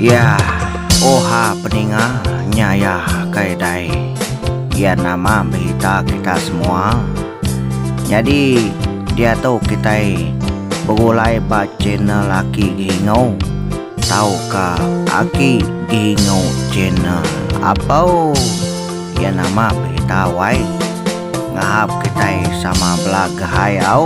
Yah, oha peninga nya iya kai dai. Iya nama berita kita semua. Nyadi diatu kitai begulai ba channel Aki Gihingau tauka Aki Gihingau Channel. Apau iya nama berita wai. Ngahap kitai sama belagai au.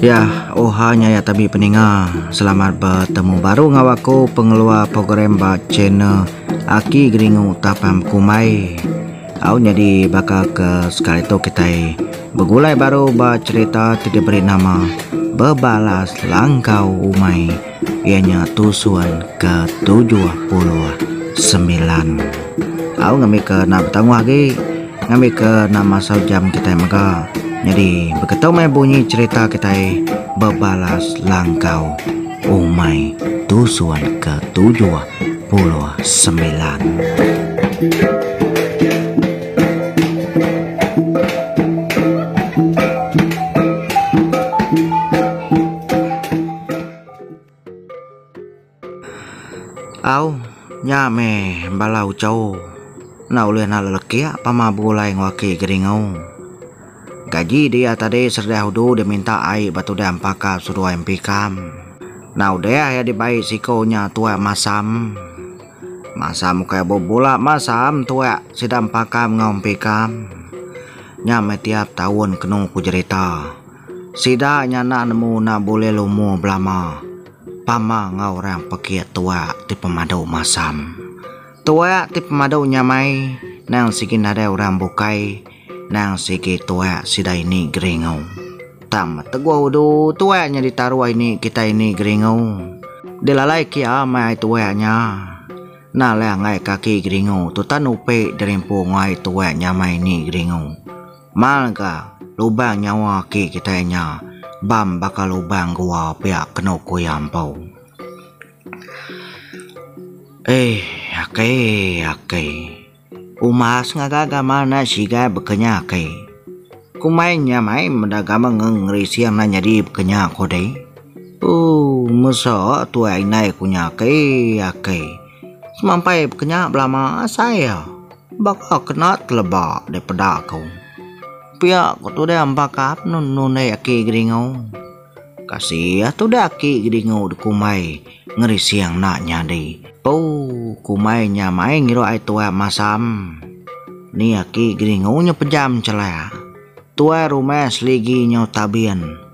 Ya, oha nya ya tabi peninga. Selamat betemu baru enggau aku pengeluar program ba channel Aki Geringu Tapam Kumbai. Au nyadi baka ke sekali tu kitai begulai baru ba cherita ti diberi nama Bebalas Langkau Umai. Iya nya tusun ke tujuh puluh semilan. Au ngambika enda betanguh agi ngambika enda masau jam kitai mega. Nyadi beketu meh bunyi cherita kitai bebalas langkau umai tusun ke tujuh puluh semilan. Au, nya meh bala uco enda ulih nalu lekiak pama begulai enggau aki Geringu. Gaji dia tadi serediah udu dia minta ai ba tudah empa ka seduai empi kam. Enda udah iya dibai siko nya tuak masam. Masam ukai bebula masam tuak sida empa kam enggau empi kam. Nya meh tiap taun kenu ku jerita. Sida nya enda nemu enda bulih lumu belama pama enggau orang pekit tuak ti pemadu masam. Tuak ti pemadu nyamai nang sigi nadai orang bukai nang sigi tuak sida ini Geringu. Tang beteguh udu tuak nya ditaruh ini kitai ini Geringu. Dilalai kia meh ai tuak nya. Enda leh enggai kaki Geringu tu tan upi dirimpu enggau ai tuak nyamai ini Geringu. Mal ga, lubang nyawa aki kitai nya bam baka lubang gua pia kenu ku iya empu. Eih, aki, aki. Umas ngaga gamal enda sigai bekenya aki. Kumai nya mai meda gamal ngerising enda nyadi bekenya ko deh. Ooh, mesok tuai indai ku nya aki, aki. Semampai kenya belama asai iya baka kena teleba dek peda aku. Pia ko tudang embakap nundai aki Geringu. Kasih tudang aki Geringu dikumbai ngerising enda nyadi. Ooh kumbai nya mai ngirup ai tuai masam. Ni aki Geringu nya pejam chelak. Tuai rumah seligi nyau tabin.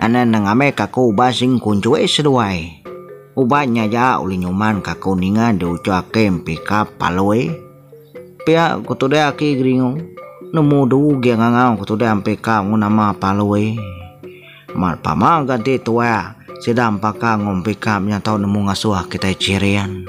Anak enda ngambi kaku uban sing kunjoi seduai. Uban nya aja ulih nyuman kaku ninga diuchur aki Empika Palui. Pia ku tudah aki Geringu, nemu du ugi ngangau ku tudah Empika enggau nama Palui. Amat pama ga enti tuai sida Empaka enggau Empika menyatau nemu ngasuh kitai Chirian.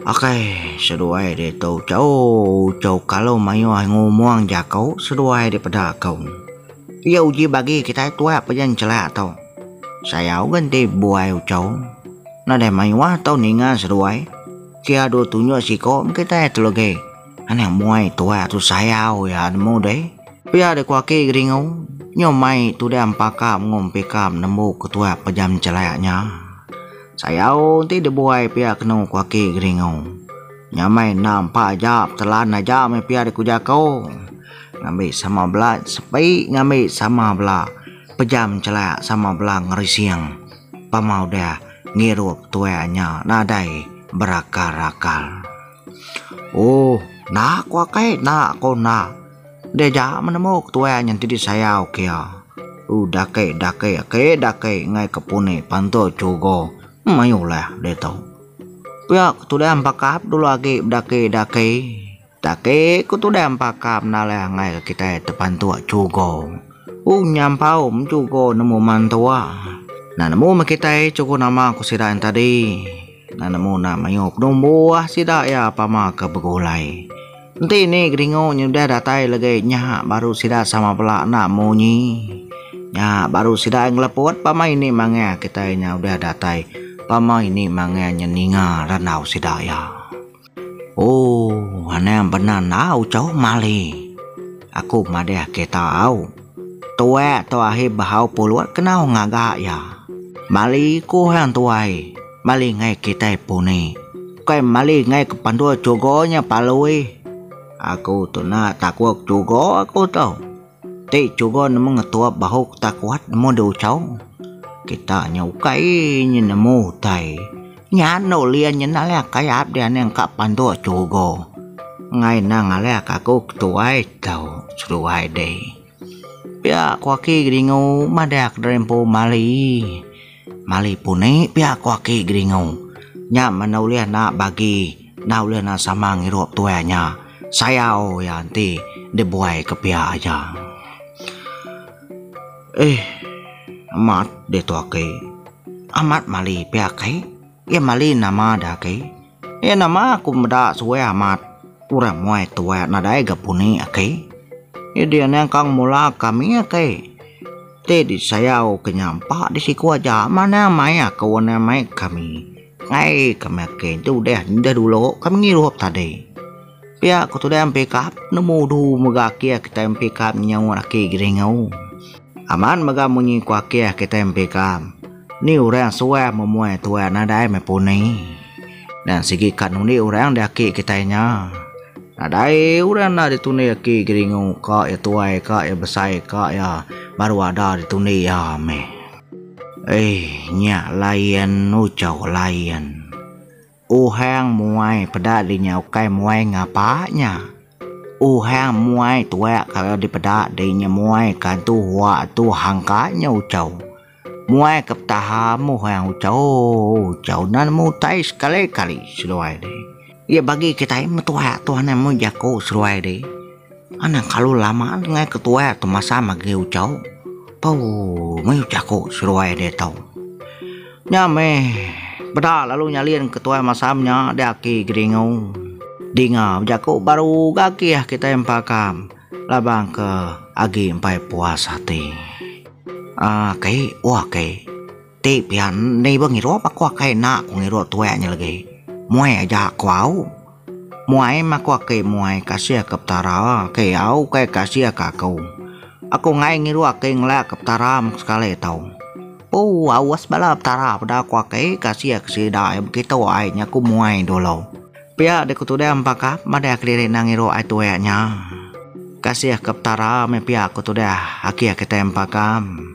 Okey, seduai ditu chou chou kalau mayuh ngumung jaku seduai daripada aku. Iya uji bagi kitai tuak pun yen chela tu. Sayau ngan ti buai chou. Nadai mayuh tau ninga seduai. Kia dua tunjuk siko meh kitai tu legi. Anak muai tuak tu sayau iya nemu deh. Pia deh ko aki Geringo. Nyo mai tudang paka mengom pika nembu ke tuak pejam chelak nya. Sayau ti dibuai pia kenu ku aki Geringu. Nya meh enda empa aja petelan aja meh pia dikuja aku. Ngambi sama bela sepi ngambi sama bela pejam chelak sama bela ngerising pama udah ngirup tuai nya nadai berakal-akal. Ooh enda aku akai enda aku enda. Deja menemu ke tuai nyenti disayau kia. Uh daki daki aki daki ngai ke puni pantu chugo mayuh leh ditu. Pia ke tudan pakap dulu agi bedaki daki. Daki ke tudan pakap enda leh ngai ke kitai tepantu chugo. Uh nyampau chugo nemu mantua. Enda nemu meh kitai chugo nama ku sida tadi. Nan nemu enda mayuh pedung buah sida iya pama ke begulai. Enti ni kedingu nyudah datai legi nya baru sida sama bela enda munyi. Nya baru sida ngeleput pama ini manggah kitai nya udah datai pama ini manggah nya ninga randau sida iya. Ooh anang bena enggau chau mali. Aku madahke tau. Tuak tu ahi behau pulut kenau ngaga iya. Mali ku hang tuai, mali ngai kitai puni. Bukai mali ngai ke pandul chugo nya palui. Aku tu na takuk chugo aku tu. Ti chuga nemu ngetup bahu kita kuat nemu deh uchau. Kita nya ukai nya nemu utai. Nya enda ulih nya enda ulih akai ap dianing ka panduk chuga. Enggai enda ngalih ka aku ketuai tau seduai deh. Pia aku aki gedingu madahka deh empu mali. Mali puni pia ko aki Geringu. Nya meh enda ulih enda bagi enda ulih enda sama ngirup tuai nya. Sayau iya enti dibuai ke pia aja. Eh amat ditu aki. Amat mali pia aki. Iya mali nama da aki. Iya nama aku meda suwih amat urang muai tuai nadai ga puni aki. Iya dia nya engka ngemula kami aki. Ti disayau ke nya empa di siku aja manah mai aku endah mai kami. Ai kami aki enti udah dulu kami ngirup tadi. Pia ku tudai ampi kap nemu udu mega akih kitai ampi kap nyau laki Geringau. Amat mega munyi ku akih kitai ampi kap, ni orang suah memuai tuai nadai meh puni. Nan sigi ka nundi orang di aki kitai nya. Nadai orang enda ditundi aki Geringau ka iya tuai ka iya besai ka iya baru ada ditundi iya meh. Eih nya layan uchau layan. Uhang muai peda di nya ukai muai ngapa nya. Uhang muai tuak kala dipeda di nya muai kantu hua tu hangka nya ucau. Muai ke petaha muhang ucau ucau nan mutai sekali kali seduai deh. Iya bagi kitai metuak tuan amu jaku seduai deh. Anang kalu lama nengah ke tuai tu masa magi ucau. Pau meh jaku seruai dia tau. Nya meh beda lalu nyalin ke tuai masa menya dia aki geringu. Dinga bejaku baru ga aki iya kitai empakam laban ke agi empai puas ati. Aki, oh aki. Ti pia endi ba ngirup aku akai enda ku ngirup tuek nya legi. Muai aja ku au. Muai meh aku aki muai kasih ke petara aki au ukai kasih ke aku. Aku enggai ngirup aki ngelak ke petara meh sekali tau. Ooh awas bala petara peda ku aki kasih ke sida ai begitu ai nya ku muai dulu. Pia deh ku tudang pakap madah kediri enda ngirup ai tuek nya. Kasih ke petara meh pia ku tudah aki kitai empakam.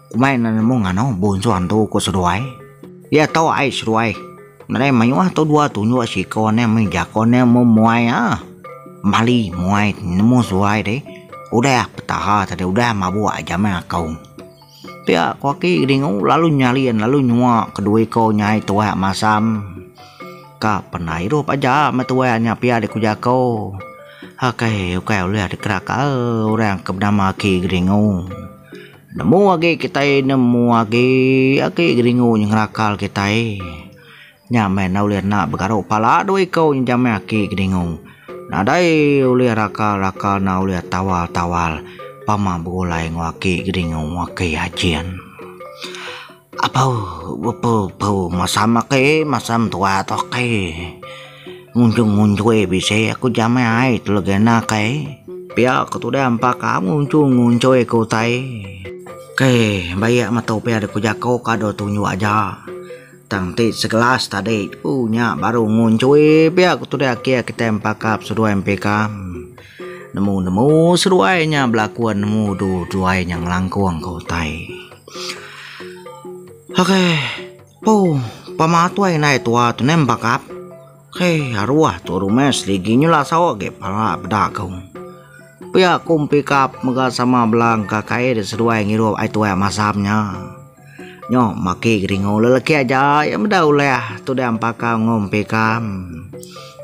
Kumbai enda nemu ngano bunsu antu ku seduai. Iya tau ai seduai. Nadai mayuh tau dua tunjuk siko ane mih jako ane meh muai ah. Mali muai nemu seduai deh. Udah petaha tadi udah mabuk ai jaman akou. Pia ko aki dingu lalu nyalin lalu nyua kedue ko nyai tuai masam. Ka pernah idup aja me tuai nya pia deh ku jako. Akai ukai ulih dikena kaul orang ke benama aki Geringu. Nemu agi kitai nemu agi agi geringu ngerakal kitai nya meh enda ulih enda begaru pala dua iku nyejam meh aki geringu nadai ulih rakal rakal enda ulih tawal tawal pama begulai enggau aki geringu aki Ajin. Apau bepu pu masam ake masam tua tu ake ngunjung ngunjui bisi aku jamai ai tu legenda kai pia ko tudai ampa ka ngunjung ngunjui ke utai kai bayak metu pia dek ku jako kado tunjuk aja tang ti segelas tadi tu nya baru ngunjui pia ko tudai ake ke tai empa ka peseduai empi ka nemu nemu seduai nya belakon nemu du duai nya ngelangkong ke utai. Okey. Ooh, pama tuai indai tua tu neh bakap. Hei, aruah tu rumes ligi nyulah sawa agi pala peda ku. Pia ku pikap mega sama bela engka kai deh seduai ngirup ai tuai masam nya. Nyo maki geringu lelaki aja iya meda ulih tu deh empaka ngom pikam.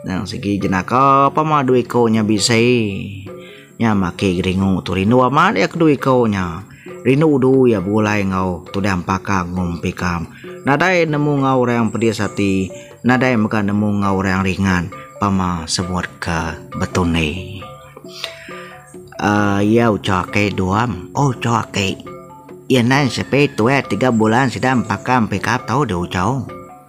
Nang sigi jenaka pama due ko nya bisi. Nya maki Geringu tu rindu amat iya ke dua iko nya. Rindu udu iya begulai enggau tudang paka Ngum Pikam. Nadai nemu enggau orang pedis ati, nadai mega nemu enggau orang ringan pama sebut ke Betundi. Aaa iya ucho aki Duam, oh ucho aki. Iya nai sepi tuai tiga bulan sida empaka Pikam tau deh ucho.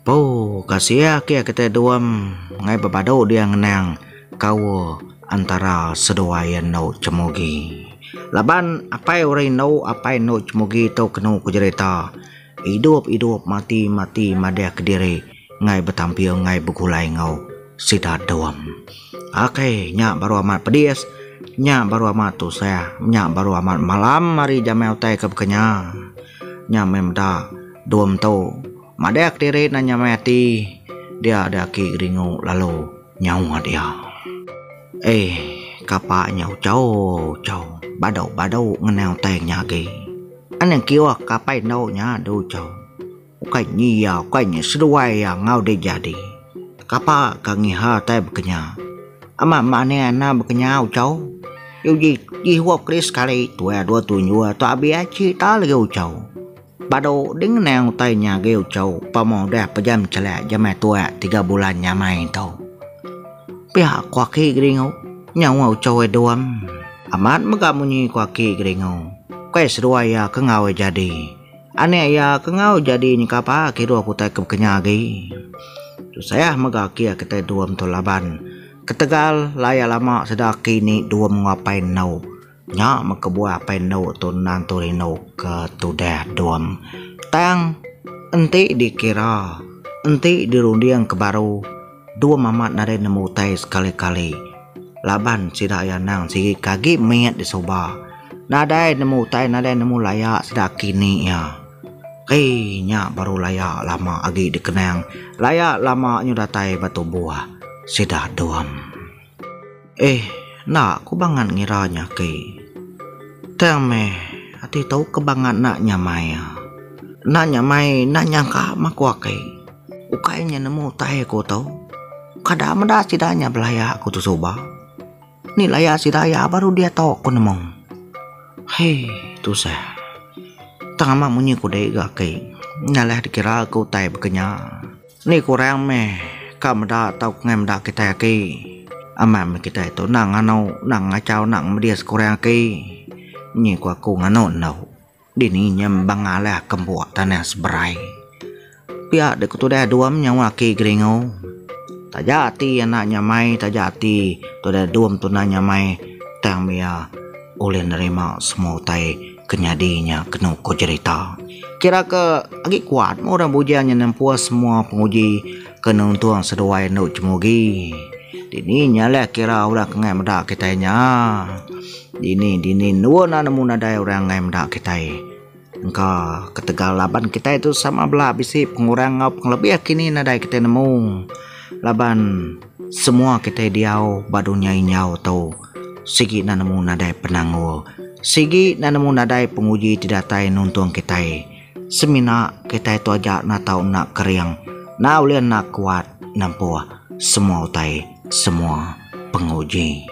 Poo ka sia kia kitai duam ngai bepadu dia ngenang kaul antara seduai endo cemugi. Laban apai orang indu apai endo cemugi tu kenu ku jerita idup idup mati mati madahka diri ngai betamping ngai begulai enggau sida duam. Ok nya baru amat pedis nya baru amat tusah nya baru amat malam ari jamai utai ke baka nya. Nya meh meda duam tu. Madak diri enda nyamai ati dia ada aki ringu lalu nyawa dia. Eh kapa nya uchau uchau badu badu ngena utai nya agi. Anang kiuh ka apai endo nya du uchau. Ukai nyi iya ukai nyi seduai iya enggau dek jadi. Kapa ka ngiha utai bekenya. Ama manih ana bekenya uchau. Uji uji huap kali sekali tuai dua tunjur tu abih achi ta legi uchau. Badu ding ngenang utai nya agi uchu pemung udah pejam chelak jemai tuak tiga bulan nya amai ento. Pia ku aki Geringu nyawa uchu ai duang. Amat mega munyi ku aki Geringu. Ukai seduai iya ke enggau ai jadi. Anak iya ke enggau jadi nyeka pa kiruh ke utai ke bekenya agi. Tusah mega aki iya kitai Duam tu laban ketegal laya lama sida aki ni Duam enggau apai endu. Nya meh kebuah apai endo tu endang tu rindu ke tudah dom. Tang enti dikira, enti dirunding ke baru, dom amat nadai nemu utai sekali-kali laban sida iya endang sigi ke agi mit di suba. Nadai nemu utai, nadai nemu laya sida aki ni iya. Hei nya baru laya lama agi dikenang. Laya lama nyau datai ba tubuh sida dom. Eh, enda ku bangat ngira nya ke. Tang meh, ati tu ke bangat enda nyamai ia. Enda nyamai enda nyangka meh ku ake. Ukai inya nemu utai aku tu, kada meda sida inya belaya aku tu suba. Ni laya sida ia baru diatu ku nemu. Hei, tusah. Tang amat munyi ku dei ga ake. Nya lah dikira ke utai baka nya. Ni kurang meh ka meda tau kengai meda kitai aki. Amat meh kitai tu nang nganu nang ngachau nang ngemedis kurang aki. Nyi ku aku nganu endo. Dini nyem bang alih ke mbok tanah seberai. Pia deh ku tudah dom nyawa aki Geringo. Taja ati anak nyamai taja ati tudah dom tuna nyamai tang mia ulih nerima semua utai. Ke nyadi nya kenu ku jerita. Kira ke agi kuat meh orang bujang nya nempuh semua penguji ke nuntung seduai endo Chemugi. Dini nya leh kira orang ke ngai meda kitai nya. Dini dini endun nemu nadai orang ngai meda kitai. Engka ketegal laban kitai tu sama bela bisi pengurang enggau pengelebih kini nadai kitai nemu laban Semua kitai diau ba dunya injau tu sigi enda nemu nadai penanggul, sigi enda nemu nadai penguji ti datai nuntung kitai. Semina kitai tu aja enda tau enda kering, enda ulih enda kuat nempuh semua utai, semua penguji.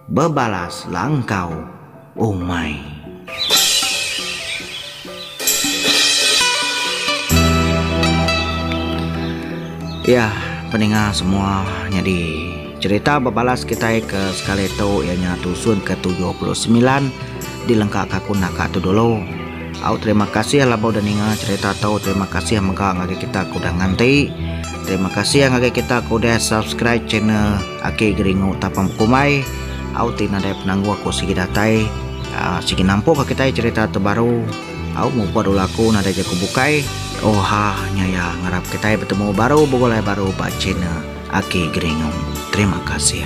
Bebalas la engkau umai. Iya peninga semua nyadi cerita bebalas kitai ke sekali tu iya nya tusun ke tujuh puluh semilan di lengka ka aku naka tu dulu. Au terima kasih laban udah ninga cerita tu terima kasih mega ngagai kita ke udah nganti terima kasih ngagai kita ke udah subscribe channel Ake geringu tapa bekumbai au ti nadai penanggul aku sigi datai sigi nampuka kitai cerita tu baru au muput ulu aku nadai jaku bukai oha nya iya ngarap kitai betemu baru begulai baru ba channel ake geringu terima kasih.